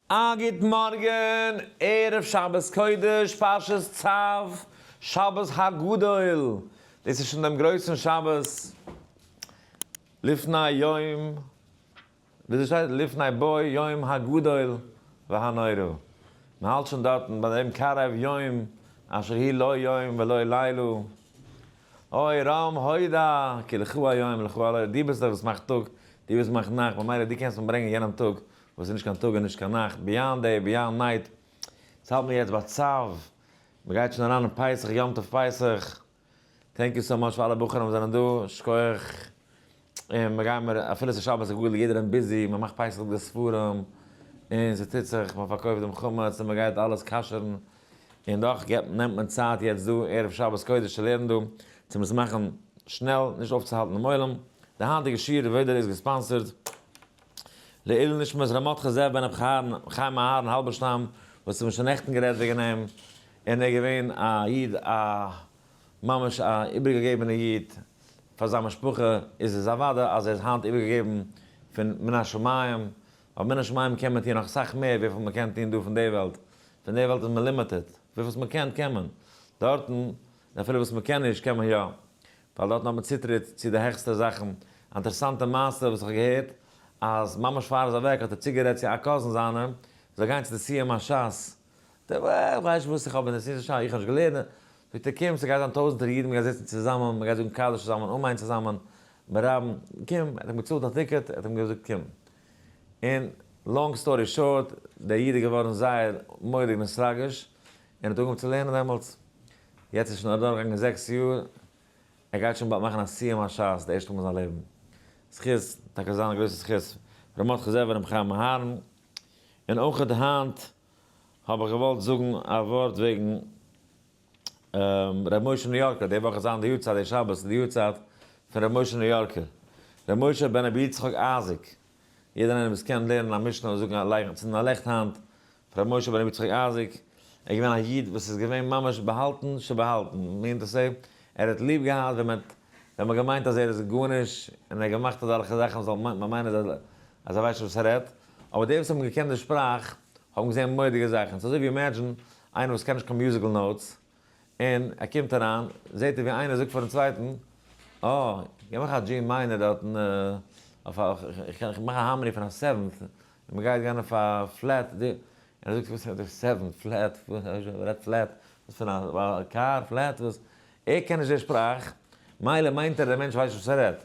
א גוט מארגן, ערב שבת קודש פרשת צב, שבת הגדול, דאס איז שוין דעם גרויסן שבת לפני יום, וויאזוי שטייט? לפני בוא יום הגדול והנורא, מען האלט שוין דארטן ביי דעם קרב יום אשר היא לא יום ולא לילה, אוי רם הודא, כי לך היום, לך הלילה, דו ביסט דער וואס מאכט טאג, דו ביסט מאכט נאכט, ממילא דו קענסט מיר ברענגען יענעם טאג וואס איז נישט קיין טאג און נישט קיין נאכט, ביאנד דעי, ביאנד נייט, עס האלט מיר יעצט ביי צב, מען גייט שוין אריין אין פסח, יום טוב פסח, טענק יו סאו מאטש פאר אלע בחורים וואס זענען דא, שכוח, און מען גייען מיר, אפילו עס איז שבת הגדול יעדער איז ביזי, מען מאכט פסח די ספרים, און עס טוט זיך, מען פארקויפט דעם חמץ, און מען גייט אלעס כשר'ן, און דאך געבט נעמט מען צייט יעצט דא ערב שבת קודש צו לערנען דא, צו עס מאכן שנעל, נישט אויפצוהאלטן דעם עולם, די היינטיגע שיעור ועוד איז געספאנסערד. לעילוי נשמת ר' מרדכי זאב בן ר' חיים אהרן האלבערשטאם וואס האבן שוין נעכטן גערעדט וועגן אים, און ער איז געווען א איד א ממש א איבערגעגעבענע איד פאר זיין משפחה, איז עס אוודאי אז ער איז היינט איבערגעגעבן פון מן השמים, ווייל מן השמים קען מען טון נאך סאך מער וויפיל מען קען טון דא פון די וועלט, פון די וועלט איז מען לימיטעד, וויפיל וואס מען קען קען מען, דארטן אפילו וואס מען קען נישט קען מען יא, ווייל דארטן האט מען צוטריט צו די העכסטע זאכן. א אינטערעסאנטע מעשה וואס איך האב געהערט, אז ממש פאר ער איז אוועק האט ער צוגערעדט צו א קאזין זיינע ער זאל גיין צו די סיום השס, דער וואס איך ווייס נישט וואס איך האב אין די סיום השס, איך האב נישט געלערנט, זאגט ער קום ס'גייט זיין טויזנטער אידן מ'גייט זיצן צוזאמען, מ'גייט זאגן קדיש צוזאמען, אמן צוזאמען, ברבים, קום, ער האט אים געצאלט א טיקעט, ער האט אים געזאגט קום. און לאנג סטארי שארט, דער איד איז געווארן זייער מורא'דיג נעסראגיש, און האט אנגעהויבן צו לערנען דעמאלטס, יעצט איז שוין אדורכגעגאנגען זעקס יאר, ער גייט שוין באלד מאכן א סיום השס די ערשטע מאל אין זיין לעבן, זכות, טאקע זיין א גרויסע זכות, ר' מרדכי זאב און ר' חיים אהרן, און אויכעט היינט האב איך געוואלט זאגן א ווארט וועגן ר' משה ניו-יארקער, די וואך איז זיין די יארצייט, די שבת איז די יארצייט פון ר' משה ניו-יארקער, ר' משה בן ר' יצחק אייזיק. יעדער איינער וואס קען לערנען א משנה און זאגן א לייכן צינדן א לעכט היינט פאר רבי משה בן רבי יצחק אייזיק ער איז געווען א איד וואס איז געווען ממש באהאלטן שבהאלטן מיענט טו סעי ער האט ליב געהאט ווען מען האט ווען מען געמיינט אז ער איז גארנישט און ער האט געמאכט אזעלכע זאכן מען זאל מיינען אז ער אז ער ווייסט נישט וואס ער רעדט אבער די וואס האבן געקענט די שפראך האבן געזעהן מורא'דיגע זאכן ס'איז אזוי ווי אימעדזשין איינער וואס קען נישט קיין מיוזיקל נאוטס און ער קומט אריין, זעט ער ווי איינער זאגט פארן צווייטן, אה, גיב מיך א דזשין מיינער דארטן, איך קען, איך מאך א האמרי פון א סעווענט, און מען גייט גיין אויף א פלעט די, און ער זאגט וואס רעדט איר סעווענט, פלעט, ווער רעדט פלעט, וואס פאר א קאר, פלעט, וואס, ער קען נישט די שפראך, מילא מיינט ער די מענטש ווייסט נישט וואס ער רעדט,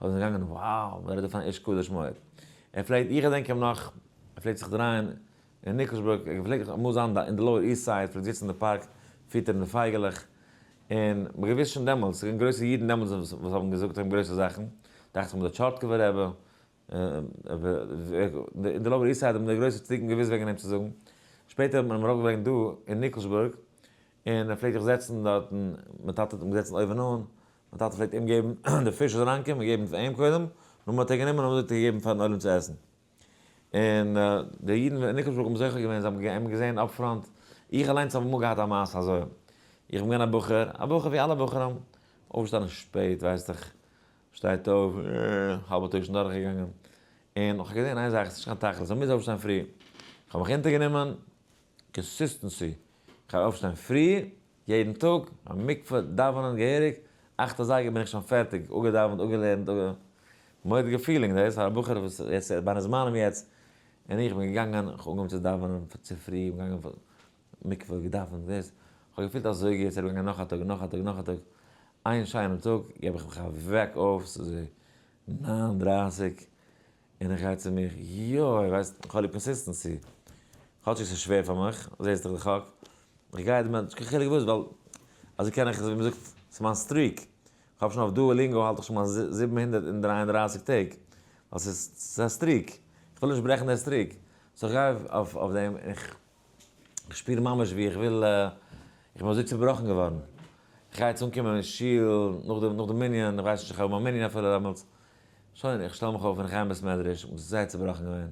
אזוי זענען געגאנגען וואו ווער איז דאס אן איש קדוש מאוד ער פלעגט איך געדענק אים נאך ער פלעגט זיך דרייען אין ניקלשבורג ער פלעגט אמאל זיין אין די לאוער איסט סייד פלעגט זיצן אין די פארק פיטערן די פייגעלעך און מען האט געוואוסט שוין דעמאלטס ס'איז געווען גרויסע אידן דעמאלטס וואס האבן געזאגט אויף אים גרויסע זאכן דאכט זיך די טשארטקובער רבי אין די לאוער איסט סייד האבן די גרויסע צדיקים געוואוסט וועגן אים צו זאגן שפעטער האט מען אים אראפגעברענגט דא אין ניקלשבורג און ער פלעגט זיך זעצן דארטן, מיין טאטע האט אים געזעצן אויבן אן, מיין טאטע פלעגט אים געבן די פיש אזוי אריינקומען און געבן פאר אים קודם, נאר מען האט ער גענומען און אזוי האט ער געגעבן פארן עולם צו עסן. און די אידן אין ניקלשבורג האבן זוכה געווען, זיי האבן אים געזען אפ פראנט, איך אליינס האב אמאל געהאט א מעשה אזוי, איך בין געווען א בחור, א בחור ווי אלע בחורים, אויפגעשטאנען שפעט ווייסט דיך, שטייט אויף, האלבע טאג שוין דורכגעגאנגען, און איך האב געזען איין זאך, עס איז נישט קיין תכלית, מען מוז אויפשטיין פרי, איך האב מיך אונטערגענומען, קאנסיסטענסי, איך וועל אויפשטיין פרי יעדן טאג, מיין מקווה, דאווענען געהעריג, אכט אזייגער בין איך שוין פערטיג, אפגעדאווענט, אפגעלערנט, אפ. מורא'דיגע פילינג דאס, פאר א בחור וואס יעצט בין אין זמנים יעצט, און איך בין געגאנגען, איך האב אנגעהויבן צו דאווענען צופרי, איך בין געגאנגען מקווה, געדאווענט, דאס, איך האב געפילט אזוי גוט, ס'איז ארומגעגאנגען נאך א טאג, נאך א טאג, נאך א טאג, איין שיינעם טאג גיב איך מיך א וועק אויף, ס'איז ניין דרייסיג. און איך גיי צו מיך, יוי, ווייסט, איך האב ליב קאנסיסטענסי. כאטשיג ס'איז שווער פאר מיך, זעסט דאך די חק. איך גיי דערמיט, נישט קיין חילוק וואס, ווייל אזוי קען איך, אזוי ווי מ'זאגט, ס'איז מיין סטריק. כ'האב שוין אויף דואאלינגאו האלט איך שוין מיין זיבן הונדערט און דרײַ און דרײַסיק טעג. ווייל ס'איז, ס'איז א סטריק. כ'וויל נישט ברעכן דער סטריק. סאו כ'גיי אויף דעם, און איך איך שפיר ממש ווי איך וויל, איך בין אזוי צעבראכן געווארן, איך גיי יעצט אנקומען אין שול נאך די מנין, איך ווייס נישט איך האב מיין מנין אפילו דעמאלטס, שוין איך שטעל מיך אויף און איך גיי אין בית מדרש, איך בין זייער צעבראכן געווען,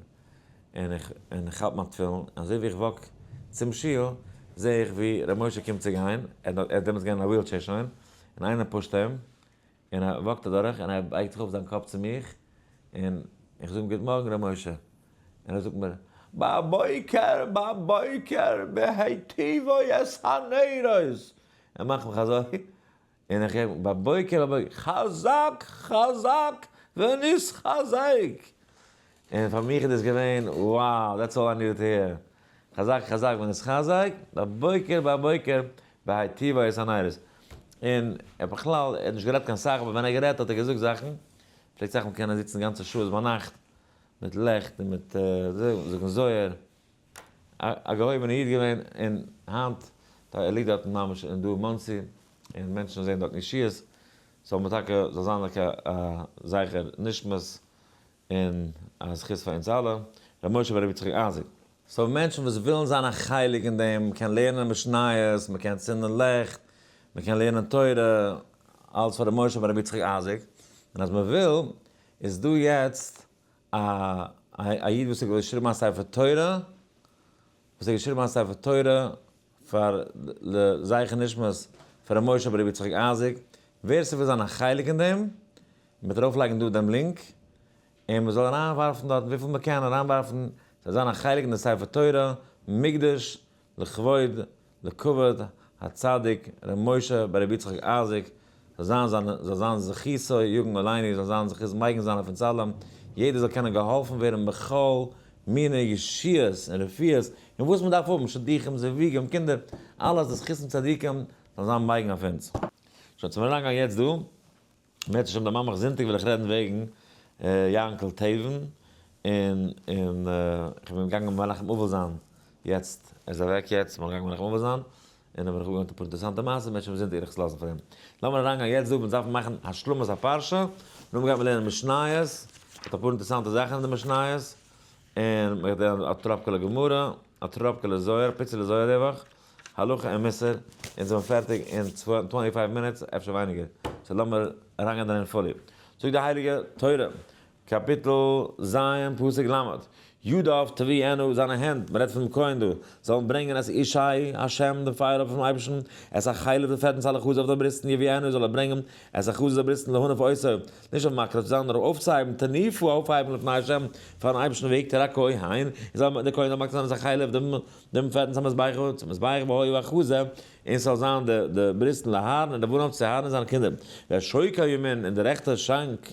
און איך און איך האלט מיין תפילין, אזוי ווי איך וואק צום שול זע איך ווי ר' משה קומט צו גיין, ער איז דעמאלטס געווען אין א וויל טשעיר שוין, און איינער פושט אים, און ער וואקט אדורך און ער בייגט זיך אויף זיין קאפ צו מיך, און איך זאג אים גוט מארגן ר' משה, און ער זאגט מיר, בבוקר בבוקר בהיטיבו את הנרות, ער מאכט מיך אזוי, און איך הער בבוקר בבוקר, חזק חזק ונתחזק, און פאר מיך איז דאס געווען wow that's all i needed to hear חזק חזק בן איש חזק, בבוקר בבוקר בהאי טבא איז הניירות, און ער האט בכלל ער האט נישט גערעדט קיין סאך אבער ווען ער האט גערעדט האט ער געזאגט זאכן, פלעגט זאך מקענען זיצן גאנצע שעות ביינאכט מיט לעכט און מיט זאגן זוהר, א געהויבענע איד געווען, און היינט ער ליגט דארטן ממש דא אין מאנסי און מענטשן זעהן דארטן ישועות, זאל מען טאקע זאל זיין א זכר נשמת און א זכות פאר אונז אלע, רבי משה ורבי יצחק אייזיק. סאו מענטשן וואס ווילן זיין א חלק אין דעם, מען קען לערנען משניות, מען קען צינדען לעכט, מען קען לערנען תורה, אלץ פאר רבי משה ורבי יצחק אייזיק, און אז מען וויל, איז דא יעצט א א איד וואס האט געשריבן א ספר תורה, וואס האט געשריבן א ספר תורה פאר ל זכר נשמת פ ר משה ב ר יצחק אייזיק, ווער ס'וויל זיין א חלק אין דעם, מ'וועט ארויף לייגן דא דעם לינק, און מ'זאל אריין ווארפן דארט וויפיל מ'קען אריין ווארפן, ס'זאל זיין א חלק אין די ספר תורה מקדש לכבוד לכבוד הצדיק ר' משה ב ר יצחק אייזיק זאל זיין זיינע, זאל זיין זכותו יגן עלינו, זאל זיין זכות מגן זיינע פון צלם, יעדער זאל קענען געהאלפן ווערן בכל מיני ישועות און רפואות און וואס מען דארף האבן, שדוכים, זיוויגים, קינדער, אלעס די זכות פון צדיקים זאל זיין מגן אויף אונז. שוין צום אריינגיין יעצט דא, בעז השם די מאמעך זונטאג וועל איך רעדן וועגן יאנקל טעבן, און און איך בין געגאנגען מנחם אבל זיין יעצט, ער איז אוועק יעצט, בין געגאנגען מנחם אבל זיין, און האב איך אפגעווארנט אפאר אינטערעסאנטע מעשים, מען וועט שוין זען די ערכות לאזן פאר אים. לאמיר אריינגיין יעצט דא, מיר דארפן מאכן השלמת הפרשה, און נאכדעם גייט מען לערנען משניות, מיט אפאר אינטערעסאנטע זאכן אין די משניות, און מען וועט לערנען א טראפקעלע גמרא, א טראפקעלע זוהר, א פיצעלע זוהר ריווח, הלכה און מוסר, און זעמיר פערטיג אין טווענטי פייוו מינוטס, אפשר ווייניגער, סאו לאמיר אריינגיין דערין פולי. זאגט די הייליגע תורה, קאפיטל ז' פסוק ל', ידיו תביענה, זיינע הענט, מ'רעדט פונעם כהן דא, זאלן ברענגען את אישי השם, דעם פייער אפער פונעם אייבערשטן, את החלב, די פעטנס אל החזה אויף די בריסטן, יביאנו, זאל ער ברענגען, את החזה, די בריסטן, להניף עושה, נישט אויף מקריב צו זיין, נאר אויף אויפצוהייבן, תניפו, אויפהייבן, לפני השם, פארן אייבערשטן, ויקטור הכהן, און זאל דער כהן זאל מקריב זיין את החלב, דעם, דעם פעטנס המזבח, צום מזבח, והיו החזה, און ס'זאל זיין די, די בריסטן, לאהרן, און לבנון, צו אהרן און זיינע קינדער, והשוק הימין, און די רעכטע שאנק,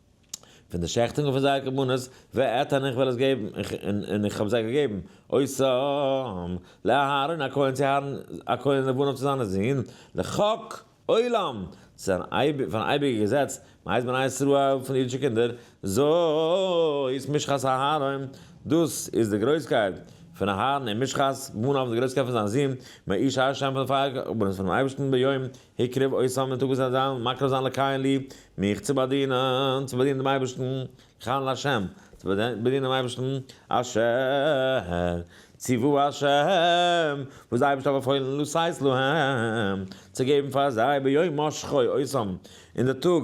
פון די שעכטונגען פון זייער קרבנות, ואת און איך וועל עס געבן, און איך האב זיי געגעבן, עושם, לאהרן הכהן צו אהרן הכהן לבנו צו זיינע זון, לחוק עולם, צו זיין פארן אייביגע געזעץ, מאז בני ישראל, פון די אידישע קינדער, זאת משחת אהרן, דאס איז די גרויסקייט פון אהרן, און משחת בניו, די גרויסקייט פון זיין זון, מאיש ה' פון די פייער קרבנות פונעם אייבערשטן ביום הקרב אויס זיין מיטאג ביז אזאנס, מקרב זיין לקיים לי, מיך צו באדינען, צו באדינען דעם אייבערשטן, לכהן להשם, צו באדינען דעם אייבערשטן, אשר ציוו השם, וואס דער אייבערשטער האט באפוילן לעשות להם, צו געבן פאר זיי, ביום משחו, אויסהאבן אין די טאג,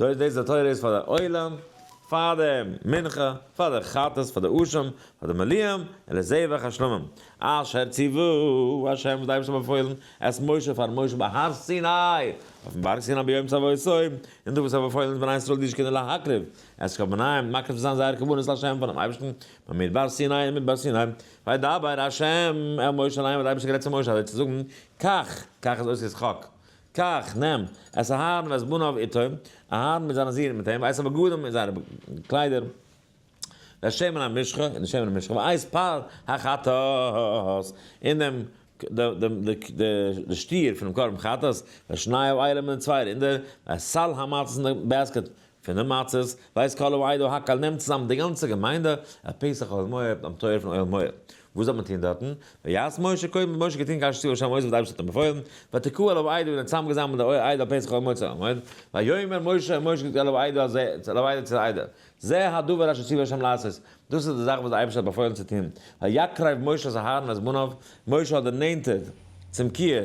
זאָגט דאָס די תורה איז פאַר דער עולם, פאַר דער מנחה, פאַר דער חטאת, פאַר דער אשם, פאַר דער מליאם, און לזבח השלמים, אשר ציוו השם וואָס דער אייבערשטער האָט באַפוילן את משה פאַר משה בהר סיני, אויפן באַרג סיני ביום צוואותו, און דאָ וואָס ער האָט באַפוילן את בני ישראל די זקנים להקריב את קרבנם, מקריב צו זיין זייער קרבנות להשם פאַרן אייבערשטן, במדבר סיני אין מדבר סיני, וידבר השם אל משה אַליין האָט דער אייבערשטער גערעדט צו משה אַזוי צו זאָגן, קח, קח איז אויס יצחק, קח, נעם, את אהרן ואת בניו איתו, אהרן מיט זיינע זין מיט אים, ואת הבגדים און זייערע קליידער, ואת שמן המשחה און די שמן המשחה, ואת פר החטאת און דעם די שטיר פונעם קרבן חטאת, ואת שניו איילעם און די צוויי רינדער, ואת סל המצות און די בעסקעט פון די מצות ווייסט כל העדה הקהל נעמט צוזאם די גאנצע געמיינדע אויף פסח אויל מועד ביים טויער פון אויל מועד, וואס זאל מען טון דארטן? ויעש משה קודם האט משה געטון כאשר ציוה ה' מויז וואס די אייבערשטער האט אים באפוילן, ותקהו אל העדה און ער האט צוזאמגעזאמלט די עדה אויף פסח אויל מועד צו אויל מועד, ויאמר משה און משה האט געזאגט אל העדה אז זעהט, אל העדה צו די עדה, זה הדבר אשר ציוה ה' לעשות, דאס איז די זאך וואס די אייבערשטער האט באפוילן צו טון, ויקרב משה את הארון ואת בניו, משה האט דערנענטערט צום כיער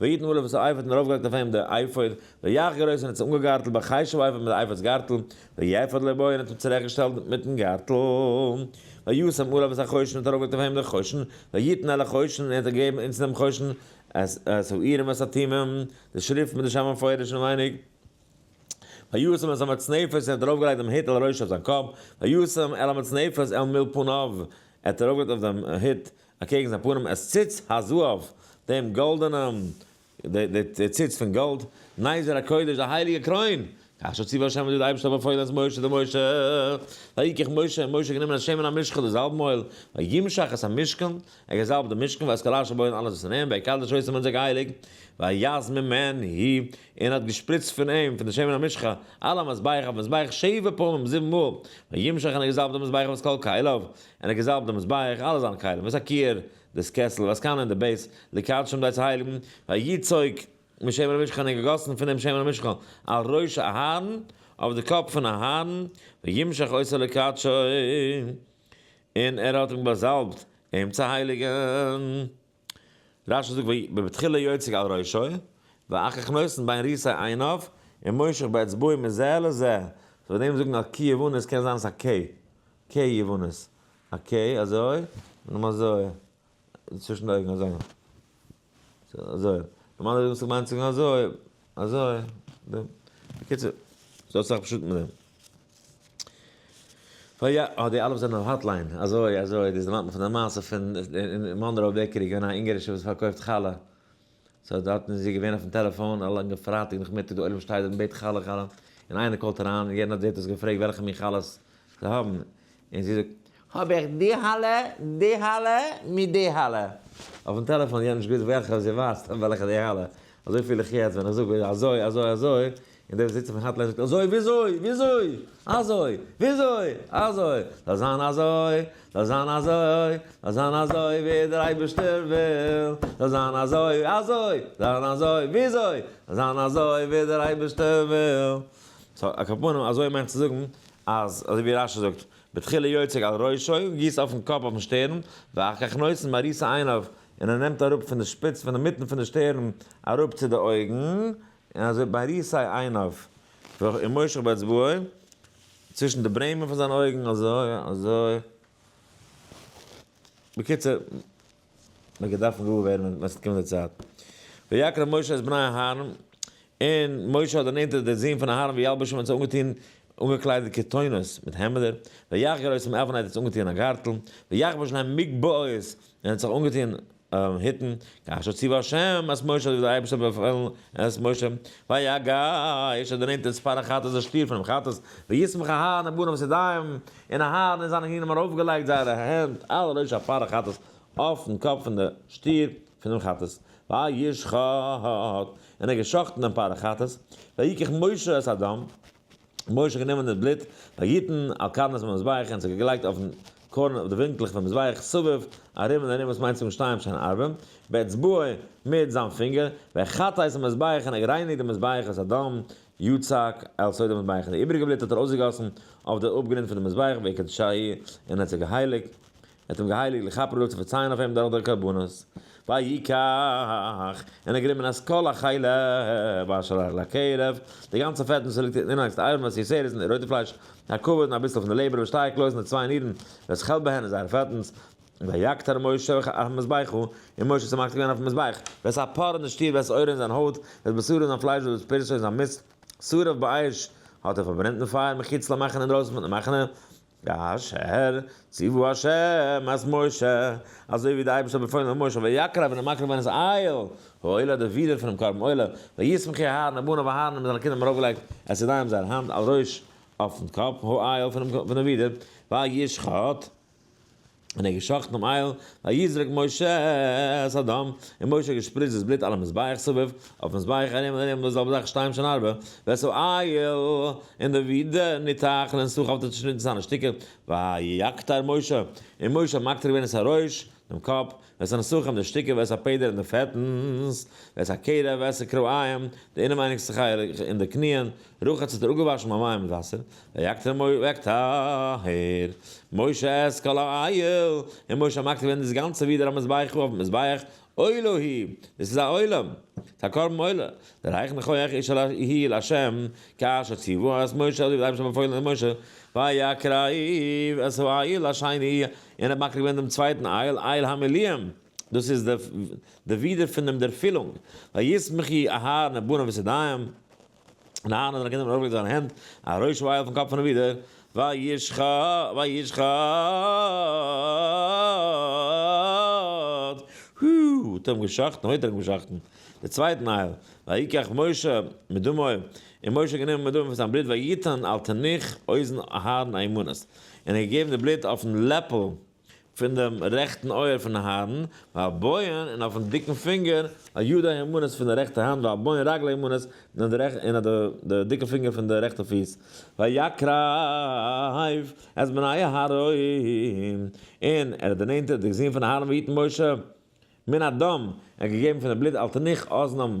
ויתן ולו וואס האט אייפערט און ארויפגעלייגט אויף אים די אייפער, ויח גערויס און האט זיך אנגעגארטלט ביי חשוב אייפער מיט די אייפער'ס גארטל, ויפת לבו און האט אים צוריך געשטעלט מיטן גארטל, וישם עליו את החושן און האט ארויפגעלייגט אויף אים די חושן, ויתן אל החושן און ער האט זיך געגעבן אונטן דעם חושן, את האירים ואת התימים, די שריפט מיט די שם המפורש אינעווייניג, וישם את המצנפת און האט ארויפגעלייגט דעם הוט על ראשו אויף זיין קאפ, וישם אל המצנפת אל מול פניו, ער האט ארויפגעלייגט אויף דעם הוט אקעגן זיין פנים את ציץ הזהב, דעם גאלדענעם, די ציץ פון גאלד, נזר הקודש, די הייליגע קרוין, כאשר ציווה השם אזוי האט דער אייבערשטער באפוילן את משה דער משה, ויקח משה, און משה האט גענומען א שמן המשחה, די זאלב מויל, וימשח את המשכן, ער האט געזאלבט דעם משכן, ואת כל אשר בו און אלעס וואס אין אים, ויקדש אותו און האט עס געהייליגט, ויז ממנו, און האט געשפריצט פון אים, פון די שמן המשחה, על המזבח, אויפן מזבח, שבע פעמים, זיבן מאל, וימשח און ער האט געזאלבט דעם מזבח ואת כל כליו, און ער געזאלבט די מזבח, אלע זיינע כלים, וואס א כיער, דאס קעסל, וואס קאנע און די בית, לקדשם די צו הייליגן, ווי א יצוג משמן המשכן, און געגאסן פון דעם שמן המשכן על ראש אהרן, אויף די קאפ פון אהרן, וימשח עשה לקדשו, און ער האט אים באזאלבט אים צו הייליגן. רשי זאגט ויהי בבתחילה יוצק על ראשו ואחר כך נותן בין ריסי עיניו און מושך באצבעו מזה לזה, סאו ביי דעם זאגן א ק יוונית קען זיין ס'א ק ק יוונית, א ק אזוי און נאר אזוי צווישן די אויגן אזוי אזוי, נארמאלערהייט וואלט מען געמיינט צו זאגן אזוי. אזוי, נו, בקיצור, ס'האט זיך פשוט מיט דעם. פאר יא, אה, די אלף זענען אויף האטליין, אזוי, אזוי, דאס דערמאנט מיר פון די מעשה פון, אין מאנראו בעקערי געווען א אונגארישע וואס פארקויפט חלה, סאו דארט איז זי געווען אויפן טעלעפאן א לאנגע פרייטאג נאכמיטאג די עולם שטייט דארט און בעט חלה חלה, און איינער קאלט אריין און יענער האט זעט דאס געפרעגט וועלכע מין חלות זיי האבן, און זי זאגט, האב איך די האלע, די האלע, מיט די האלע. אויפן טעלעפאן יענטש גוט וועלכע, זי ווייסט וועלכע די האלע. אזוי פיל איך יעצט ווען איך זאג אזוי, אזוי, אזוי, און דער וואס זיצט אויפן האטליין זאגט אזוי וויאזוי, וויאזוי, אזוי, וויאזוי, אזוי, זאל זיין אזוי, זאל זיין אזוי, זאל זיין אזוי ווי דער אייבערשטער וויל, זאל זיין אזוי, אזוי, זיין אזוי, וויאזוי, זאל זיין אזוי ווי דער אייבערשטער וויל. סאו א קאפאנעם אזוי מיינט צו זאגן אז אזוי ווי רש י זאגט, בתחילה יוצק על ראשו, גיסט אויפן קאפ אויפן שטערן, ואחר כך נותן מראית עיניו, און ער נעמט אראפ פון די שפיץ פון אינמיטן פון די שטערן אראפ צו די אויגן, און אזוי מראית עיניו, ומושך באצבעו, צווישן די ברעמען פון זיינע אויגן אזוי אזוי, בקיצור. מען האט געדארפט גאר ווערן ווען ס'האט געקומען די צייט. ויקרא משה את בני אהרן, און משה האט דערנענטערט די זון פון אהרן וילבשם האט זיי אנגעטון אנגעקליידעט כתונות, מיט העמעדער, ויחגר אותם עפן האט עטס אנגעטון א גארטל, ויחבוש להם מגבעות, און האט זיך אנגעטון היטן, כאשר ציווה ה' את משה אזוי ווי דער אייבערשטער האט באפעלן את משה, ויגש האט דערנענטערט ספר החטאת די שטיר פונעם חטאת, וישמח אהרן און בניו צו דיין. און אהרן און זיינע ענינים ארויפגעלייגט זייערע הענט על ראש הפרה חטאת אויפן קאפ פון די שטיר פון דעם חטאת, וישחט, און ער האט געשחטן דעם פרה חטאת, ויקח משה את הדם, און משה האט גענומען די בלוט, ויתן על קרנות המזבח, און עס האט געלייגט אויפן קרן אויף די ווינקלעך פון מזבח סביב ארום און ארום, וואס מיינט צווישן שתיים שן ערבים, באצבעו מיט זיין פינגער, וחטא את המזבח, און ער האט גערייניגט דעם מזבח את הדם, יצחק, על סדר המזבח, און די איבעריגע בלוט האט ער אויסגעגאסן אויף די אפגרינד פון די מזבח בעקע ד ש ה, און ער האט זיי געהייליקט, ער האט אים געהייליקט לכפר עליו צו פארצייען אויף אים דורך די קרבנות, ויקח, און ער האט גענומען אז כל החלה באשר על הקרב, די גאנצע פעט וואס ליגט אונטן אינערליכסטע אייוועלט וואס איר זעהט, די רויטע פלייש, די הכבד, און אביסל פון די לעבער וואס שטייעט לויז און די צוויי נירן וועלכע כעלט ביי הן איז זייער פעטנס, ויגט ה' משה אויף המזבח, און משה האט זיך מקטיר געווען אויפן מזבח, ווערסט א פאר אין די שטיר, ווערסט אויר אין זיין הויט, ווערסט בשרו אין זיין פלייש, ווערסט פרסו אין זיין מיסט, שרף באש האט ער פארברענט אין פייער מחוץ למחנה אינדרויסן פון די מחנה, כאשר ציווה ה' את משה, אזוי ווי דער אייבערשטער האט באפוילן אויף משה, ויקרב און ער מקרב געווען איז אהל העולה די ווידער פונעם קרבן עולה, ויסמך אהרן און בניו אהרן מיט זיינע קינדער האבן ארויפגעלייגט את ידיהם זייער האנט על ראש אויפן קאפ העולה פונעם ווידער, וישחט. און ער האט געשחטן דעם אייל, ויזרק משה את הדם, און משה האט געשפריצט דאס בלוט אלע מזבח סביב, אויפן מזבח ארום און ארום, וואס זאל בדרך שתיים שנה ארבע, ווער ס'האט אייל, און די ווידער ניתח, און אין סך האט ער צעשניטן זיינע שטיקער, ויקטר משה, און משה האט מקטיר געווען את הראש, דעם קאפ, וועס א נסכים די שטיקער וועס א פעדער אין די פעטנס וועס א קערה וועס א כרעיים די אינעווייניגסטע חלק אין די קניען רחץ האט ער אפגעוואשן ביי מים מיט וואסער ויקטר מויל ויקטהר משה את כל העיל און משה האט מקטיר געווען דאס גאנצע ווידער א מזבחו אויפן מזבח עולה היא דאס איז א עולה ס'איז א קרבן עולה דערהייכן איך אויך איש אל העיל השם כאשר ציוו את משה אזוי ווי דער אייבערשטער האט באפוילן משה ויקריב את העיל השני און ער האט מקריב געווען דעם צווייטן אייל, אייל המילואים, דאס איז די ווידער פון דעם ערפילונג, וישמח י אהרן את בניו ואת ידיהם, און אהרן האט זיינע קינדער ארויפגעלייגט זיינע הענט, א ראש אייל אויפן קאפ פונעם ווידער, וישחט, הו, האט ער אים געשחטן, הויט ער אים געשחטן, דער צווייטן אייל, ויקח משה מדמו, און משה האט גענומען מדמו פון זיין בלוט ויתן אל תנח אוזן אהרן האימנות, און האט געגעבן די בלוט אויפן לעפל פון דעם רעכטן אויער פון אהרן, והבויען, און אויפן דיקן פינגער, הידי הימנית פון די רעכטע האנט, והבויען רגל הימנית, און אויף די דיקע פינגער פון די רעכטע פיס, ויקרב את בני אהרן, און ער האט דערנענטערט די זון פון אהרן ויתן משה מן הדם, ער האט געגעבן פון די בלוט על תנוך אזנם,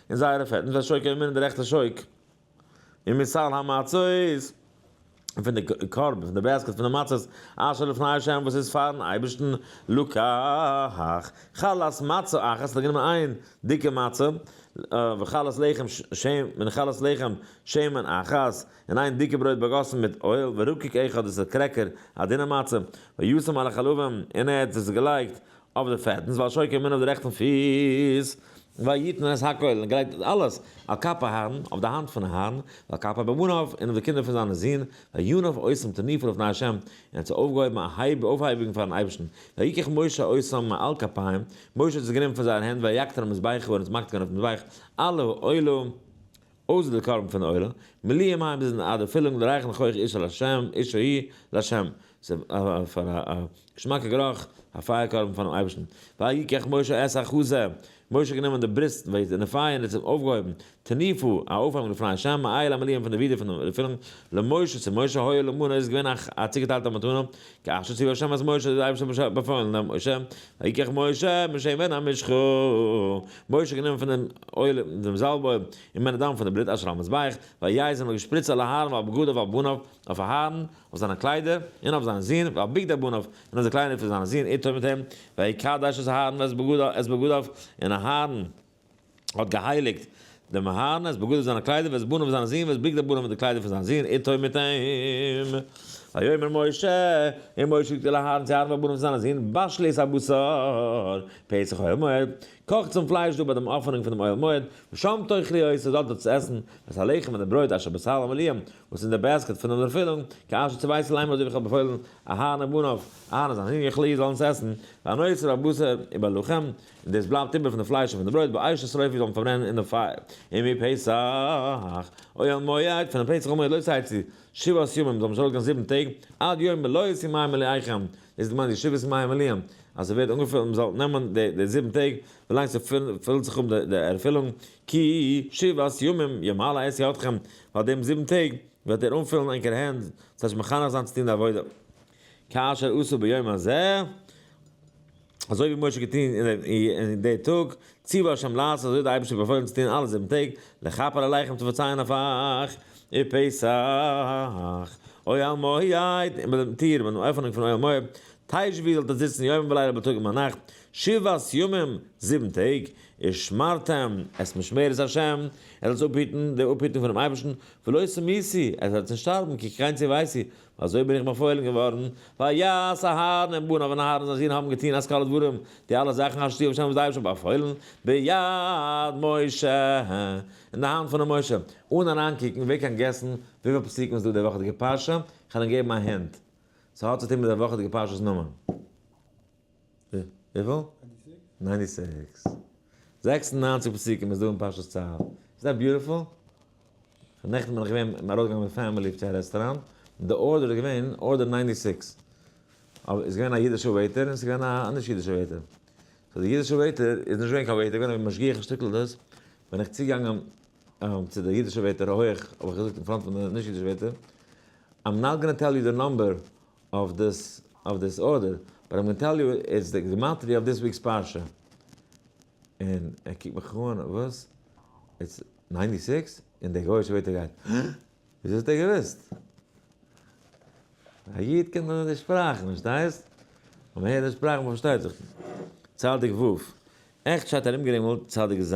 און זייערע פעטן פון א שויק און מירן די רעכטע שויק און מסל המצות און פון די קרבן פון די בעסקעט פון די מצות אשר לפני ה' וואס איז פארן אייבערשטן לקח חלת מצה אחת האט ער גענומען איין דיקע מצה וחלת לחם שמן און חלת לחם שמן אחת און איין דיקע ברויט באגאסן מיט אויל ורקק אחד דאס איז קרעקער א דינע מצה וישם על החלבים און ער האט עס געלייגט אויף די פעטנס, ועל שוקי מן אויף די רעכטן פיס, ויתן את הכל, און געלייגט אלעס, על כף אהרן, אויף די האנט פון אהרן, ועל כף בניו, און אויף די קינדער פון זיינע זין, וינוף עושם תניפה לפני ה', און ער האט זיי אויפגעהויבן א הייב אויפהייבונג פארן אייבערשטן, ויקח משה עושם מעל כפים, משה האט עס גענומען פון זייער הענט, ויקטר על מזבחו, און עס מאכט געווען אויף די מזבח, אלה האלו, אויסער די קרבן פון עולה, מליא מים ביז אין אדער פילונג דערהייכן כח איש אל השם, איש ההיא, לה', ס'איז פאר א געשמאקע גערוך, א פייער קרבן פארן אייבערשטן, ויקח משה את החזה, משה האט גענומען די בריסט, וועיז, און די פייער און ער האט זיי אויפגעהויבן, תניפו, א אויפהייבונג לפני ה', מעיל המליאים פון די ווידער פון די פילונג, למשה, צו משה, היה לו מנה, איז געווען א צוגעטיילטע מתנה, כאשר ציווה ה' את משה, האט דער אייבערשטער באפוילן דעם משה, ויקח משה משמן המשחה, משה האט גענומען פון דעם אויל דעם זאלב אויל, און מן הדם פון די בלוט אשר על המזבח, ויעז און האט געשפריצט על אהרן ועל בגדיו ועל בניו, אויף אהרן, אויף זיינע קליידער, און אויף זיין זון, ועל בגדי בניו, און אויף די קליידער פון זיין זון איתו מיט אים, ויקדש את אהרן ואת בגדיו, און אהרן, האט געהייליקט דעם מהרנ ס בגדיו זיינע קליידער ואת בניו זיינע זין ואת בגדי בניו און די קליידער פון זיין זין איתו מיט אים. ויאמר משה, און משה זאגט צו אהרן צו אהרן ואת בניו זיינע זין, בשלו את הבשר, פסח אוהל מועד, קאכטס דעם פלייש דא ביי דעם אפענונג פון דעם אוהל מועד, ושם תאכלו איר זאלט דארט עס עסן, ואת הלחם און די ברויט אשר בסל המליאה, וואס אין די בעסקעט פון דעם ערפילונג, כאשר ציוויתי להם אזוי ווי איך האב באפוילן אהרן ובניו, אהרן און זיין זין יאכלו איר זאלן עס עסן, והנושא בבשר ובלחם. און דאס בלייבט איבער פון די פלייש און פון די ברויט ביי עשה שריפה זאל מען פארברענען אין די פייער, און ביי פסח אוהל מועד, פון די פסח אוהל מועד לויט צייט צו שבעת ימים, זאל מען נישט ארויסגיין זיבן טעג, עד יום מלא יצא מים מלאיכם, דאס איז געמיינט די שבעת ימי המלאים, אז ס'ווערט אנגעפילט, מען זאל נעמען די די זיבן טעג ווי לאנג ס'פילט זיך אפ די ערפילונג, כי שבעת ימים ימלא עשה אתכם, ווייל דעם זיבן טעג וועט ער אנפילן ענקערע הענט, ס'הייסט מחנך זיין צו טון די עבודה, כאשר עשו ביום הזה. אזוי ווי משה האט געטון אין די טאג, ציוה ה' לעשות, אזוי האט דער אייבערשטער באפוילן צו טון אלע זיבן טעג, לכפר עליכם צו פארצייען אויף אייך, איר פסח, אוהל מועד, און ביי דעם טיר, ביי דעם עפענונג פון אוהל מועד, תשבי זאלט איר זיצן יומם ולילה ביי טאג און ביינאכט, שבעת ימים, זיבן טעג, איר שמרתם את משמרת ה', איר זאלט עס אפהיטן, די אפהיטונג פונעם אייבערשטן, ולא תמותי, איר זאלט נישט שטארבן, כי קראנצי ואייסי, אזוי בין איך באפוילן געווארן, ויעש אהרן און בניו און אהרן זיין זון האבן געטון אז כל הדברים, די אלע זאכן אשר ציווה השם וואס דער אייבערשטער האט באפוילן, ביד משה, אין די האנט פונעם משה, אן אריינקוקן, ווער קען געסן וויפיל פסוקים איז דא אין דער וואכעדיגער פרשה? כ'וועל אים געבן א הינט, ס'האט צו טון מיט דער וואכעדיגער פרשה'ס נאמען. וויפיל? ניינטי סיקס. זעקס און ניינציג פסוקים איז דא אין פרשת צו. איז דעט ביוטיפול? נעכטן בין איך געווען מיר ארויסגעגאנגען מיט פעמילי צו א רעסטוראנט, און די ארדער איז געווען ארדער ניינטי סיקס. אבער איז געווען א אידישע וועיטער און עס איז געווען א נישט אידישע וועיטער. סאו די אידישע וועיטער איז נישט געווען קיין וועיטער, געווען א משגיח אין שטעטל דאס. בין איך צוגעגאנגען צו די אידישע וועיטער הויעך האב איך געזאגט אין פראנט פון די נישט אידישע וועיטער, איים נאט גאנא טעל יו די נאמבער אויף דאס אויף דאס ארדער, באט איים גאנא טעל יו איטס די גמטריא אויף דיס וויקס פרשה. און ער קוקט מיך אן, וואס? איטס ניינטי סיקס? און דער גויאישע ווערטער גייט, הא? וויאזוי האט ער געוואוסט? א איד קען דאך די שפראכן, פארשטייסט? אויב מען הערט די שפראכן מען פארשטייט זיך. צדיק ו'. עכט שטייט ארומגערינגלט צדיק ז'.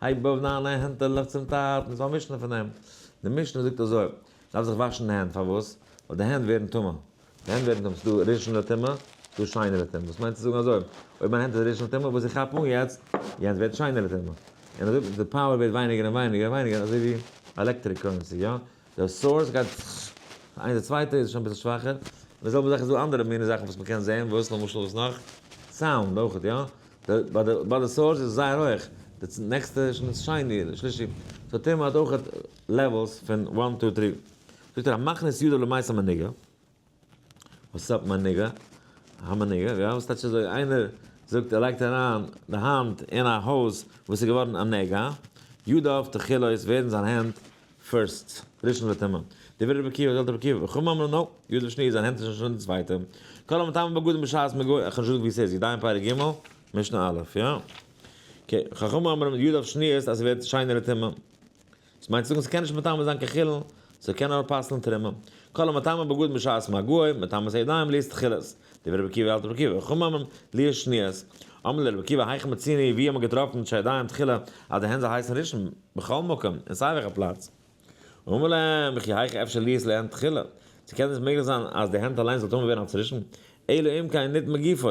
הייב אויף דיינע הענט און לויף צום טאטן. איז דא א משנה פון דעם? די משנה זאגט אזוי, מ'דארף זיך וואשן די הענט, פארוואס? ווייל די הענט ווערן טמא. די הענט ווערן טמא, ס'איז דא רישענע טומאה, ס'איז דא שיינערע טומאה. וואס מיינט צו זאגן אזוי, אויב מיין הענט איז רישענע טומאה, וואס איך כאפ אן יעצט, יענץ ווערט שיינערע טומאה. און אזוי די פאוער ווערט ווייניגער און ווייניגער און ווייניגער, אזוי ווי עלעקטריק קורענסי, יא? דער סאורס גייט איין די צווייטע איז שוין אביסל שוואכער, און די זעלבע זאך איז דא אנדערע מינע זאכן וואס מ'קען זען, וואס למשל וואס נאך? סאונד אויכעט יא, די ביי די ביי די סאורס איז זייער הויך, די צ נעקסטע איז שוין שני אדער שלישי, סאו טעמע האט אויכעט לעוועלס פון וואן טו טרי, זאגט ער המכניס ידו למעשה מנהיגה. וואס אפ מיין ניגע? אהא מיין ניגע, יא וואס טייטש אזוי? איינער זאגט ער לייגט אריין די האנט אין א הויז וואס איז געווארן א נגע, ידיו תכילות ווערן זיין הענט פירסט ראשון לטומאה, דברי רבי עקיבא זלת רבי עקיבא חכמים אמרו נאופ, ידיו שנית זיין הענט איז שוין די צווייטע, כל המטמא בגדים בשעת מגוי, איך האב נישט געזאגט ווי ס'איז, ידיים פרק ג' משנה א', יא? אקעי, חכמים אמרו ידיו שניות אז ס'ווערט שיינער לטומאה. דאס מיינט צו זאגן ס'קען נישט מטמא זיין קיין חולין, ס'קען נאר פסל'ן תרומה. כל המטמא בגד משעת מגעו, מטמאת ידיים ליעסט תחילת. דברי רבי עקיבא אלתר רבי עקיבא, חום ממם, ליעסט שניות. אמר ליה רבי עקיבא היכי מציני, ווי האט מען געטראפן מיט שהידיים תחילה אז די הענט זאל הייסן ראשון? בכל מקום, אין סיי וועלכע פלאץ. אמר להם, וכי היכי אפשר ליעסט להן תחילה? צו קען דאס מעגליך זיין אז די הענט אליינס זאל טמא ווערן אלס ראשון? אלא אם כן ניתן מגופו.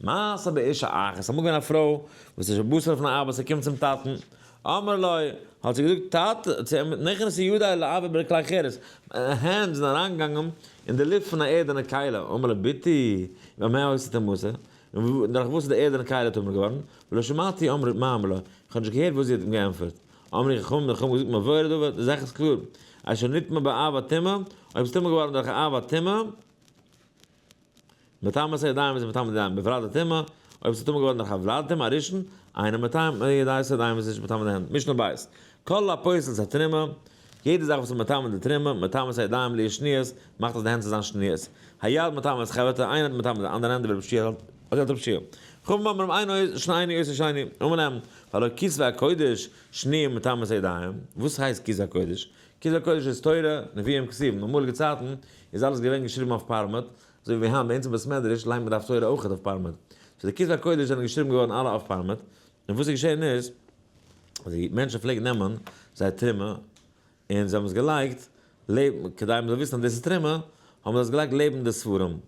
מעשה באשה אחת, איז אמאל געווען א פרוי וואס איז שבשרה פון ארבעט, זי קומט צום טאטן, אמר לו, האט זי געזאגט, טאטע, צו אים, נכנסו ידי לעבר ברכלי כרס, מיינע הענט זענען אריינגעגאנגען אין די לופט פון א ערדענע קיילה, אמר לה, ביתי, במה הועסת המעשה? און דורך וואס איז די ערדענע קיילה טמא געווארן? ולא שמעתי אמר מה אמר לה, איך האב נישט געהערט וואס זי האט אים געענטפערט. אמרו חכמים, די חכמים האבן געזאגט מבואר הדבר, די זאך איז קלאר, אשר נטמא באהבה טמא, אויב ס'איז טמא געווארן דורך אהבה טמא, מטעם מסי ידיים איז מטעם ידיים בפרט די טומאה, אויב ס'איז טמא געווארן דורך א וולד טומאה הראשון, אינו מטעם די ידיים מסי ידיים איז נישט מטמא די הענט, משנה ב', כל הפוסל את התרומה, יעדע זאך וואס איז מטמא די תרומה, מטעם מסי ידיים בלי שניות, מאכט אז די הענט זאל זיין שניות, היד מטמא את חברתה, איינער איז מטמא די אנדערע הענט דברי רב שיח אז ער האט רב שיח. חכמים אומרים אינו עושה שני עושה שני, אמר להם, הלא כסוי הקודש שניהם מטעם מסי ידיים, וואס הייסט כסוי הקודש? כתבי הקודש איז תורה, נביאים כתובים, אין אמאליגע צייטן איז אלעס געווען געשריבן אויף פארמעט, אזוי ווי היינט ביי אונז אין בית מדרש ליינט מען דף תורה אויך אויף פארמעט, סאו די כתבי הקודש זענען געשריבן געווארן אלע אויף פארמעט, און וואס איז געשען איז אז די מענטשן פלעגן נעמען זייער טערמע און זיי האבן עס געלייגט לעבן, כדי מ'זאל וויסן אז דאס איז טערמע, האבן זיי עס געלייגט לעבן די ספרים,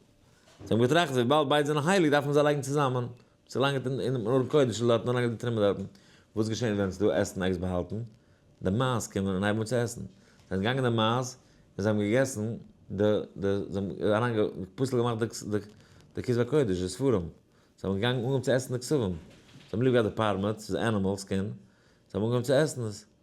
זיי האבן געטראכט אז וויבאלד ביידע זענען הייליג דארף מען זיי לייגן צוזאמען, צו לאנג אין דעם ארון קודש איז דארטן אריין געטרימעט דארטן, וואס געשעהן ווען ס'איז דא עסן עקס באהאלטן, די מייז קומען און הייבן אן צו עסן, זענען געגאנגען די מייז און זיי האבן געגעסן די די זיי האבן אריין גע פסול געמאכט די די די כתבי קודש די ספרים, זיי האבן געגאנגען אנגעהויבן צו עסן די כתבים, זיי האבן ליב געהאט די פארמעסט, ס'איז ענימעלס קינד, זיי האבן אנגעהויבן צו עסן עס.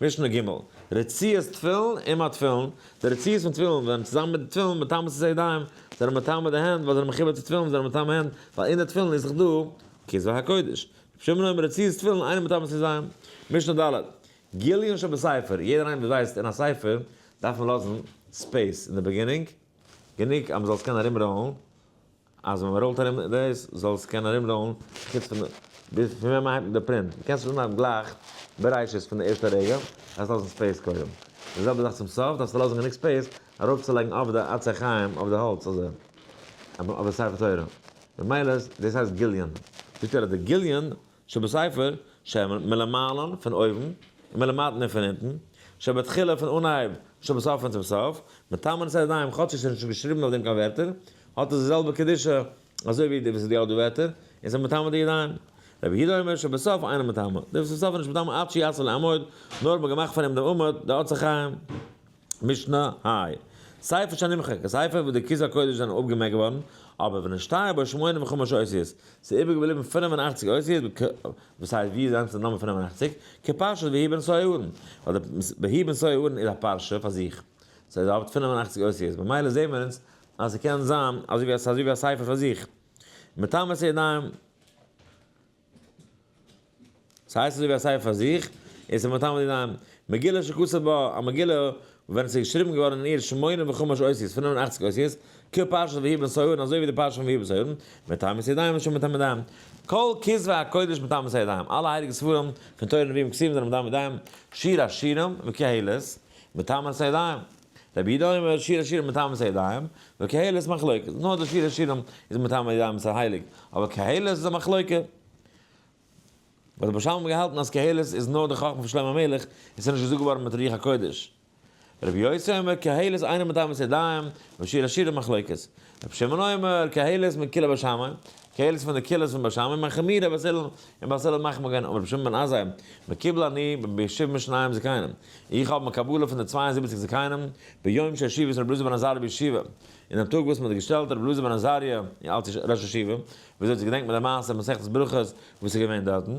משנה ג', רצועת תפילין און מד תפילין, די רצועות פון תפילין ווערן צוזאמען מיט די תפילין מטמא צו זי'ידיים, זיי זענען מטמא די הענט, ווייל זיי זענען מחובר צו תפילין, זיי זענען מטמא הענט, ווייל אין די תפילין איז זיך דא כסוי הקודש, שומרים האבן רצועות תפילין אינעם מטמא צו זי'ן. משנה ד', גיליון שבספר, יעדער איינער וואס ווייסט אין א ספר דארף מען לאזן ספעיס אין די בעגינונג, גענוג אז מען זאל עס קענען ארומראלן. אז ווען מען ראולט ארום דאס זאל עס קענען ארום ראולן חוץ פון די פון ווען מען הייבט די פרינט די קענסט עס אנהייבן גלייך בראשית פון די ערשטע רגע דארפסט לאזן ספעיס קודם די זעלבע זאך צום סוף דארפסטו לאזן גענוג ספעיס ארויף צו לייגן אויף די עצי חיים אויף די האלץ אזוי אויף די ספר תורה ממילא דאס הייסט גיליון זאגט ער אז די גיליון שבספר, שמן, מלמעלן, פון אויבן, און מלמטן, און פון אונטן, שבתחילה, פון אנהייב, שבסוף, און צום סוף, מטעמים את הידיים, כאטש עס איז נישט געשריבן אויף דעם קיין ווערטער, האט עס די זעלבע קדושה, אזוי ווי די וואס איז די אדו ווערטער, און זיי מטמא די ידיים. רבי יהודה אומר שבסוף אינו מטמא, די וואס צום סוף איז נישט מטמא עד שיעשה לעמוד, נאר האט מען געמאכט פון אים דעם עמוד, די עצי חיים. משנה, האי. ספר שנמחק, א ספר וואס די כיסוי הקודש זענען אפגעמעקט געווארן, אבער ונשתיו בו שמונים וחמש אותיות, ס'איז איבער געבליבן פינף און אכציג אותיות בק, וואס הייסט ווי איז אנדערש די נאמען פינף און אכציג? כפרשת בהאי בן סוי אהרן, ווייל די בהאי בן סוי אהרן איז א פרשה פאר זיך, סאיז האט פינף און אכציג אותיות, במילא זעהן מיר אונז אז ס'קען זיין אזוי ווי א ספר פאר זיך, מטעם עשה ידיים. ס'הייסט אזויווי א ספר פאר זיך, און ס'איז מטעם די דיין. מגילה שכתובה בה, א מגילה ווען עס איז געשריבן געווארן אין איר שמונים וחמש אותיות, פינף און אכציג אותיות, כ פרשת ויהי בנסערון, אזוי ווי די פרשה פון ויהי בנסערון, מטעם מיסי דיין ושל מטעם מידיים. כל כתבי הקודש מטעם מיסי דיין, אלע הייליגע ספרים פון תורה נביאים כתובים זענען מטעם מידיים, שיר השירים וקהלת, מטעם מיסי דיין. רבי יהודה אומר שיר השירים מטעם ס הידיים, וקהלת מחלוקת, נאר די שיר השירים איז מטעם הידיים ס'איז הייליג, אבער קהלת איז א מחלוקה. וואס רבי שלום האט געהאלטן אז קהלת איז נאר די חכמה פון שלמה המלך, און ס'איז נישט געזאגט געווארן מיט רוח הקודש. רבי יוסי אומר קהלת אינו מטעם ס הידיים, ושיר השירים מחלוקת. רבי שמעון אומר, קהלת מקהלה בשמים, קהלת איז פון די קהילות פון בשמים, און חמירא בזל, און בזל האט מחמיר געווען, אמר רבי שמעון בן עזאי, מקובל אני בישיב משניים זקנים, איך האב מקבלה פון די צוויי און זיבעציג זקנים, ביום שהשיב את רבי אלעזר בן עזריה בישיבה, אין דעם טאג וואס מען האט געשטעלט רבי אלעזר בן עזריה אלץ ראש ישיבה, וויאזוי צו געדענקט מען די מעשה אין מסכת ברכות וואס איז געווען דארטן.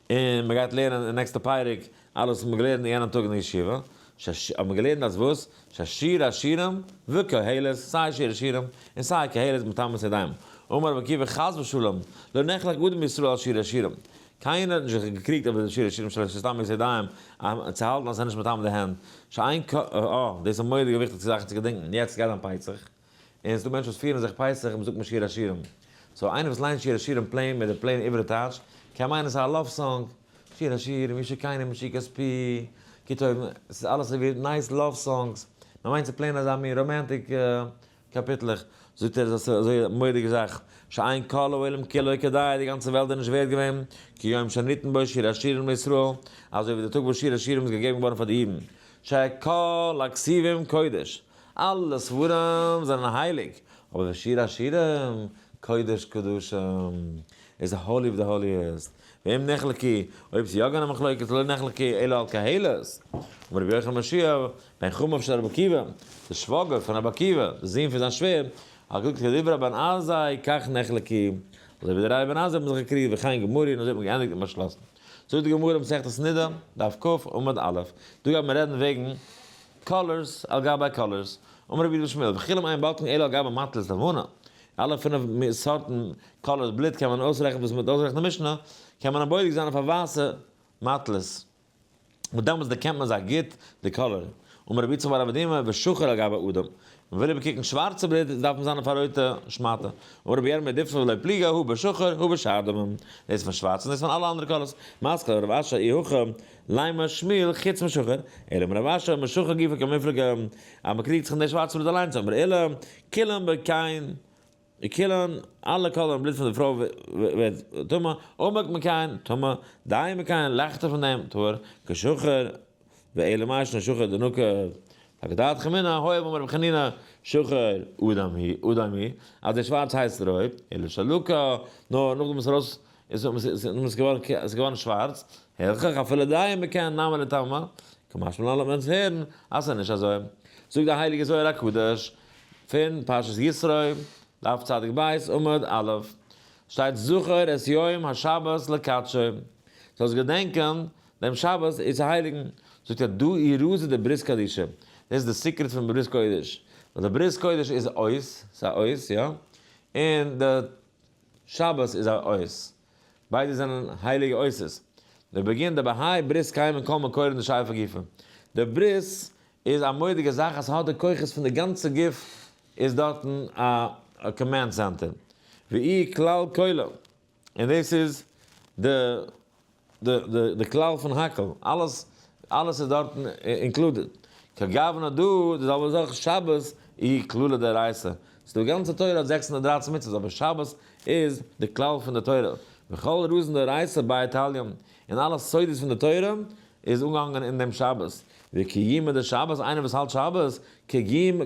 און מען גייט לערנען אין נעקסטע פרק אלעס וואס מען האט געלערנט אין יענעם טאג אין די ישיבה, שש האט מען געלערנט אז וואס ששיר השירים וקהלות סיי שיר השירים און סיי קהלות מטעמי ידיים אמר רבי עקיבא חס ושלום לא נחלק אדם מישראל על שיר השירים קיינער האט נישט זיך געקריגט אויב עס איז שיר השירים שלש איז טעמי ידיים צו האלטן אז עס איז נישט מטעמי די הענט שאין כ א דאס איז מורא'דיגע וויכטיגע זאכן צו געדענקן יעצט גייט זיין פייצעך. און ס'דא מענטשן וואס פירן זיך פסח מ'זאגט נישט שיר השירים. סאו איינער וואס ליינט שיר השירים פלעין מיט די פלעין עברית טייטש, קען מיינען ס'איז א לאוו סאנג. שיר השירים, מי שקיינעם משיג כספי, כי טוב, ס'איז אלעס ס'ווערט נייס לאוו סאנגס. מ'מיינט ס'איז פלעין אזא מין ראמענטיק קאפיטלעך. זאגט ער איז עס אזוי א מורא'דיגע זאך, שאין כל העולם כולו כדאי, די גאנצע וועלט איז נישט ווערד געווען, כיום שניתן בו שיר השירים לישראל, אזוי ווי די טאג וואס שיר השירים איז געגעבן געווארן פאר די אידן. שכל הכסיבים קודש. אלע ספרים זענען הייליג, אבער דער שיר השירים, קודש קדשים, איז די האלי אוו די האליעסט, ואם נחלקי, אויב ס'איז יא געווען א מחלוקת לא נחלקי אלא על קהלות, אמר רבי יוחנן בן שיעא, בן חמיו של רבי עקיבא, דער שוואגער פון רבי עקיבא, דער זון פון זיין שווער, הגהק כדברי אבן עזאי כך נחלקי, אזוי ווי די רייע אבן עזאי האבן זיך געקריגט וכן גמורי און אזוי האט מען געענדיגט און באשלאסן. זאגט די גמרא, מסכת נידה, דף כא, עמוד א', דא גייט מען רעדן וועגן קאלערס, על גבי קאלערס, אמר רבי יגדל שמואל, וכולם עיין בלקן אלא על גבי מטל'ס לבנה, אלע פינף סארטן קאלערס בלוט קען מען אויסרעכענען וואס מ'וועט אויסרעכענען אין משנה, קען מען א בודק זיין אויף א ווייסע מטל'ס, וואס דעמאלטס דערקענט מען זיי גוט די קאלער, אמר רבי יצחק בר אבא דימא, ושחור על גבי אדום, מען וויל איבערקוקן שווארצע בלוט דארף מען זיין אויף א רויטע שמאטע, אמר רבי ירמי' דיפתא ולא פליגא, הוא בשחור, הוא בשאר דומם, דאס פון שווארץ און דאס פון אלע אנדערע קאלערס, מסקל רב אשר אי הכא, ליין מר שמואל חוץ משוחר, אלא אם רב אשר, משוחר גופא כמפלגה, אז מען קריגט זיך אין דער שווארצע בלוט אליינס האט מר אלא, כולן ב ק אין כולן, אלע קאלער אין בלוט פון די פרוי ווערט טמא, עמוק מ ק אין טמא, דיין מ ק אין לייכטער פון דעם טהור, כשוחר, ואלא מאי ישנו שוחר דנוקא פאר כדת חמינא, הוי אמר רבי חנינא, שוחר אדם היא, אז דער שווארץ הייסט רויב, אלא שלא כ, נאר נאכדעם וואס ער האט אויס. איז האבן זיי זיי נאמען געווארן קער איז געווארן שווארץ, הילכך אפילו דיין מקען נאמען לטעמא, כמשמע לן לאמיר אונז הערן אז סאיז נישט אזוי, זאגט די הייליגע זוהר הקדוש פון פרשת יתרו דף צדיק ב' עמוד א' שטייט זכור את יום השבת לקדשו זאלסט געדענקען דעם שבת איז צו הייליגן, זאגט ער דא אי רז איז די ברית קדישא, דאס איז די סיקרעט פון ברית קודש, ווייל די ברית קודש איז אויס, סאיז אויס יא, און די. שבת איז א אות. ביידע זענען הייליגע אותות. דער בגין דער בהאי ברית קיים אין כל מקור אין די שייפה גופא. דער ברית איז א מודיגע זאך אז ס'האט די כוחות פון די גאנצע גוף איז דארטן א קאמענד סענטער. והיא כלל כולו. און דאס איז די. די כלל פון הכל, אלעס אלעס איז דארטן אינקלודעד. כגוונא דא די זעלבע זאך שבת אי כלולא דאורייתא. ס'דא גאנצע תורה האט זעקס הונדערט דרײַצן מצוות אבער שבת איז די כלל פון די תורה. וכל רזין דאורייתא באי תליון. און אלע סודות פון די תורה איז אנגעהאנגען אין דעם שבת. וקיומא דשבת איינער וואס האלט שבת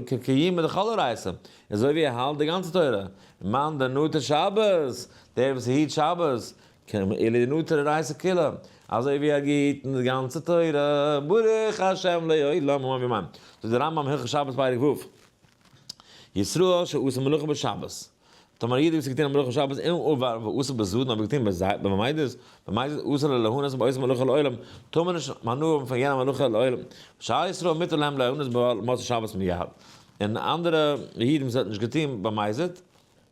כקיומא דכל אורייתא. אזוי ווי ער האלט די גאנצע תורה. מאן דנתר שבת דער וואס היט שבת כמ א לנטר רייסע כלה, אזוי ווי ער גיט אונז גאנצע תורה, ברוך השם לעולמים אבימען, זאגט דער רמב ם הלכות שבת פרק ו', ישראל שעשה מלאכה בשבת, טאמער א איד האט געטון א מלאכה בשבת אין עובר ועשה בזדון האט ער געטון במזיד, במזיד אסור לו ליהנות מן עושה מלאכה לעולם, טאר מען נישט הנאה האבן פון יענע מלאכה לעולם, שאר ישראל מותר להם ליהנות במצות שבת מיד, און אנדערע אידן וואס ער האט נישט געטון במזיד,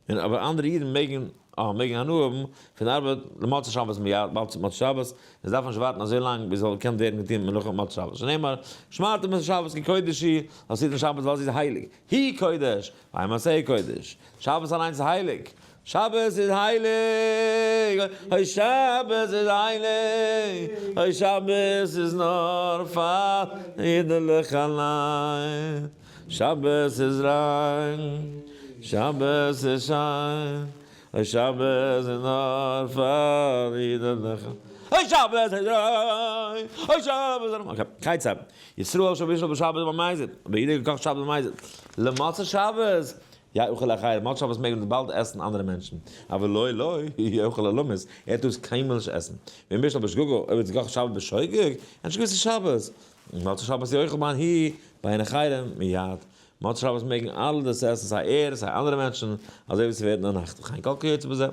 און אבער אנדערע אידן מעגן אה מעגן הנאה האבן פון ארבעט למוצאי שבת מיד ווייל צו מוצאי שבת און זיי דארפן נישט ווארטן אזוי לאנג ביז ס'זאל געקענט ווערן געטון מלאכה מוצאי שבת שנאמר שמרתם את השבת כקודש היא אז היטן שבת ווייל זי איז הייליג היא קודש והיא מעשה קודש שבת אליינס איז הייליג שבת איז הייליג אוי שבת איז הייליג אוי שבת איז נאר פאר אידעלעך אליין. שבת איז ריין, שבת איז שיין, אוי שבת איז נאר פאר אידעלעך, אוי שבת איז ריין, אוי שבת איז ריין. כיצד? ישראל שב בישל בשבת במזיד, האבן אידן געקאכט שבת במזיד, למצות שבת יאכל אחר, מצות שבת מעג מען באלד עסן אנדערע מענטשן, אבל לא לא יאכל אלומות, ער טאר עס קיינמאל נישט עסן, ואם בישל בשגגה, אויב האט ער געקאכט שבת בשוגג, אנטשקו עס איז שבת, מוצאי שבת יאכל מן ה' ביי עין החרם מיד, מוצאי שבת מעגן אלע דאס עסן סיי ער סיי אנדערע מענטשן, אזוי ווי ס'ווערט אין א נאכט וכן כל כיוצא בזה.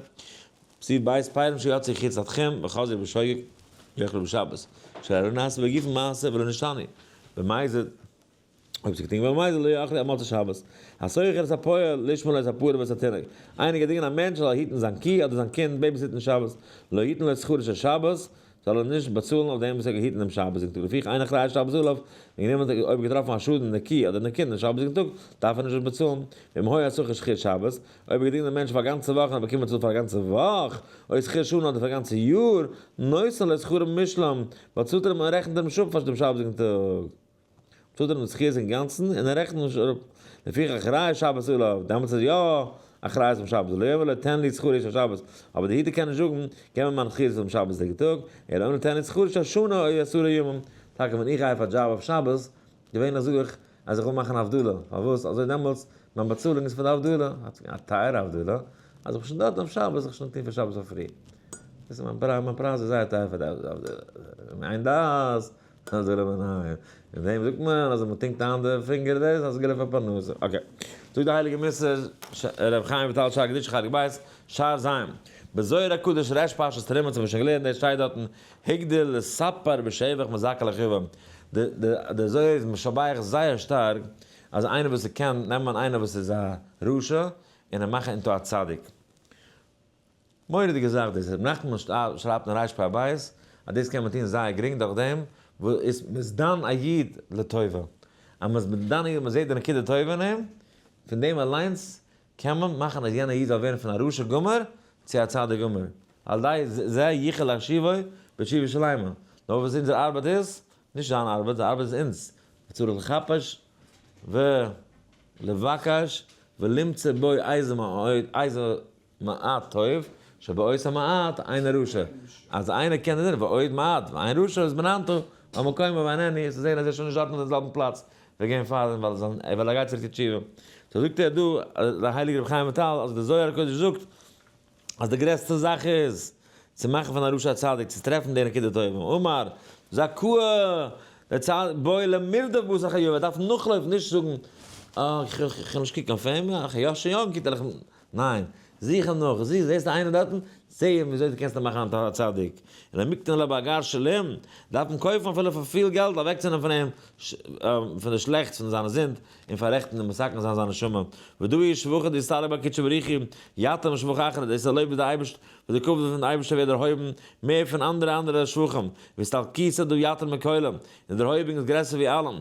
צו בית פיירן שיוצא חוץ לדחום וחוזר בשוגג יאכלו בשבת, שלא נעשה בגופו מעשה ולא נשתנה במזיד, אויב ס'געטוהן געווארן במזיד לא יאכל עד מוצאי שבת, הסוחר את הפועל לשמור את הפרה ואת התינוק, איינער געט דינגען א מענטש ער זאל היטן זיין קי אדער זיין קינד בעיביסיטן שבת, לא יתן לו את שכרו של שבת, זאל ער נישט באצאלן אויף דעם וואס ער האט געהיטן דעם שבת יום טוב, לפי כן אין אחראי שבת זאל אויף דעם גענומען טאג, אויב געטראפן א שאדן נקי אדער נקי דעם שבת יום טוב, דארף ער נישט דאס באצאלן, ואם היה צריך איז שכיר שבת, אויב האט געדינט דעם מענטש פאר א גאנצע וואך און האט באקומען באצאלט פאר א גאנצע וואך, אוי שכיר שנה אדער פאר א גאנצע יאר, נושא לו שכרו במשלם, באצאלט ער אים און רעכנט ער אים אויף פאר דעם שבת יום טוב. טוט ער אים די זכי' אינגאנצן און ער רעכנט נישט אראפ, לפיכך ראה שבת עליו, דעמאלטס איז יא א חרייס אום שבת עליו, אלא תן לי שכרי של שבת, אבער די היתר קען נישט זאגן, געב מיר מיין זכי' פון שבת'דיגע טאג, אלא אנא תן לי שכרי של שנה אוי עשרה ימים, טאקע ווען איך גיי אויף א דזשאב אויף שבת, געווענליך זאג איך אז איך וויל מאכן א הבדלה, פארוואס אזוי דעמאלטס מיין באצאלונג איז פאר די הבדלה, א טייערע הבדלה, אז איך בין שוין דארט אויף שבת זיך שוין טון פאר שבת פאר פרי, מיין פרייז איז זייער טייער פאר די הבדלה, אדער רבי נחמן, אין דעם זאגט מען אז ווען מען טונקט איין די פינגער דאס איז אסגור אויף א פרנסה, אקעי, זאגט די הייליגע מס' ש ר ח חיים וויטאל שאר קדושה חלק ב', שער ז', בזוהר הקדוש ר' פרשת תרומה צו וואס שוין געלערנט דאס שטייט דארטן, הגדיל לספר בשבח מזכה לחיובם, די די די זוהר איז משבח זייער שטארק אז איינער וואס איז קען נעמען איינער וואס איז א רשע און אים מאכן אינטו א צדיק. מורא'דיגע זאך דאס, רבי נחמן שרייבט אין רייש פאר הבית אז דאס קען מען טון זייער גרינג דורך דעם וואס מען איז דן א איד לטובה, אז מען איז דן א איד מען זעט די נקודה טובה אין אים, פון דעם אליינס קען מען מאכן אז יענער איד זאל ווערן פון א רשע גמור צו א צדיק גמור, על ידי זה יוכל להשיבו בתשובה שלימה, נאר וואס אונזער ארבעט איז, נישט זיין ארבעט, זיין ארבעט איז אונז, צריך לחפש ולבקש ולמצא בו אוזן מעט טוב שבעוש המעט איינער רשע אז איינער קען דערזען ועוד מעט ואין רשע איז בנענתו במקומו ואין עני איז צו זען אז ער איז שוין נישט דארטן אינעם זעלבן פלאץ ווי געווען פאר דעם ווייל ער גייט צוריק צו תשובה סאו זאגט ער דא דער הייליגער רבי חיים וויטאל אז דער זוהר הקדוש זאגט אז די גרעסטע זאך איז צו מאכן פון א רשע א צדיק צו טרעפן די נקודה טובה אמר זא ק דער צד בוי למרדף בו סך היו ער דארף נאכלויפן נישט זאגן אה איך איך איך קען נישט קוקן אויף אים אה איך שוין יונק איך ניין, זוך אים נאך, זיס, זעסטו איינער דארטן? זע אים וויאזוי דו קענסט אים מאכן א טהור א צדיק, און א מקטין לב א גר שלום, דארף אים קויפן אפילו פאר פיל געלט אוועקצונעמען פון אים פון די שלעכטס פון זיינע זינד, און פאררעכטן און מסכן זיין זיין נשמה, ודו אי שבחא דיסתעלב בה קודשא בריך הוא, יתום שבח אחרית, דאס איז א לויב וואס די אייבערשט וואס די כבוד פון די אייבערשטער ווערט דערהויבן מער פון אנדערע אנדערע שבחים, והסתלקותא דו יתר מכולם, און דערהויבונג איז גרעסער ווי אלעם,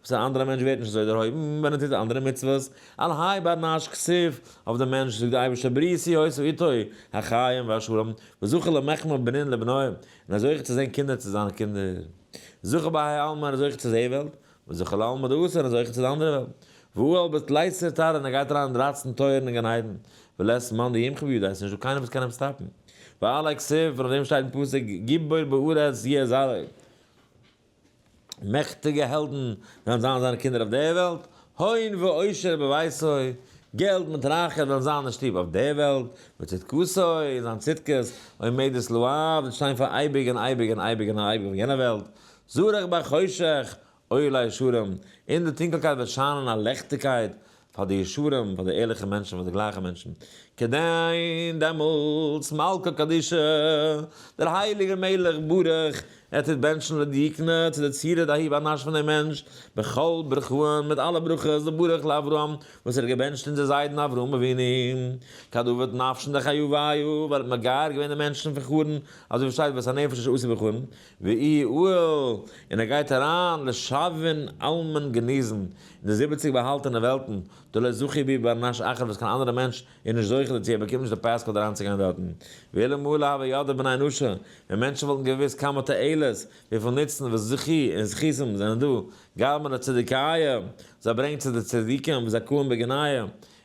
וואס א אנדערע מענטש ווערט נישט אזוי דערהויבן ווען ער טוט אנדערע מצוות, על האי בר נש כסיף, אויף דעם מענטש זאגט דער אייבערשטער בריתי הויס ואיתו החיים והשלום, וזכה למחכמה בנין לבניה, און ער איז זוכה צו זען קינדער צו זיינע קינדער, זכה בהאי עלמא ער איז זוכה צו די וועלט, וזכה לעלמא דארסא ער איז זוכה צו די אנדערע וועלט, והוא על בית לייצר טאר און ער גייט אריין אין דרייצן טויערן אין גן עדן, ולית מאן דימחא בידו עס איז נישטא קיינער וואס קען אים סטאפן, ועל האי כסיף, און אויף דעם שטייט אין פסוק גיבור בארץ יהיה זרעו. מעכטיגע העלדן וועלן זיין זיינע קינדער אויף דער וועלט, הון ועושר בביתו, געלט מיט רייכער וועלן זיין אין שטוב אויף דער וועלט, וצדקתו, און זיין צדקות, עומדת לעד, וועט שטיין פאר אייביג און אייביג און אייביג און אייביג אויף יענער וועלט, זרח בחושך, עולה ישרים, אין דער טונקלקייט וועט שיינען א לעכטיגקייט, פאר די ישרים, פאר די ערליכע מענטשן, פאר די גלייכע מענטשן, כדין דעמאלטס מלכא קדישא, דער הייליגער מלך ברוך ע טוט בענטשן לדיקנא צו די צירה דהאי באנאש פון דעם מענטש, בכל ברכהן, מיט אלע ברכות, לברך לאברהם, וואס ער האט געבענטשט אונזער זיידן אברהם אבינו, כדוברת נפשן דחיובייהו, ווייל ער האט מגייר געווען די מענטשן פון חרן, אזוי ווי עס שטייט ואת הנפש אשר עשה בחרן, ויהי אוהל, און ער גייט אריין לשבין אלמן גניזן אין די זיבעציג באהאלטענע וועלטן, דלא זכי בי בר נש אחד וואס קיין אנדערע מענטש איז נישט זוכה דערצו, ער באקומט נישט די פאספארט אריינצוגיין דארטן. ואילו מלא הוה ידע בני אנוש, ווען מענטשן וואלטן געוואוסט כמה תועלת, וויפיל נוצן וואס זכי' און זכותים זענען דא, גרמא לצדיקיא, זיי ברענגט צו די צדיקים, זכאים בגנאי,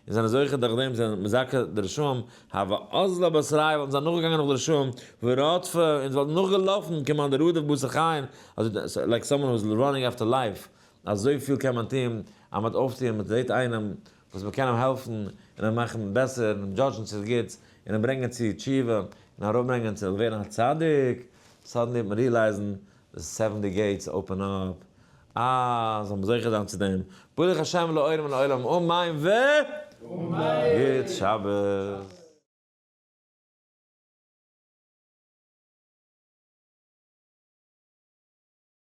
און זענען זוכה דורך דעם זיין מזכה די רשעים, הוה אזלא באסריי וואלטן זיי נאכגעגאנגען נאך די רשעים, ורודפה און זיי וואלטן נאכגעלאפן כמאן דרודף בשר חיים, אזוי לייק סאמאן הו איז ראנינג אפטער לייף, אזויפיל קען מען טון אז מ'האט אויפטוען, מ'זעט איינעם וואס מ'קען אים העלפן און אים מאכן בעסער און אים דזשאדזשן צו די גוטס און אים ברענגען צו תשובה און אראפברענגען צו ווערן א צדיק, סאדענלי וועט מען ריעלייזן די סעווענטי געיטס אפען אפ. אה, זאל מען זוכה זיין צו דעם. ברוך השם לאור מן העולם אמן ו. אמן. גוט שבת.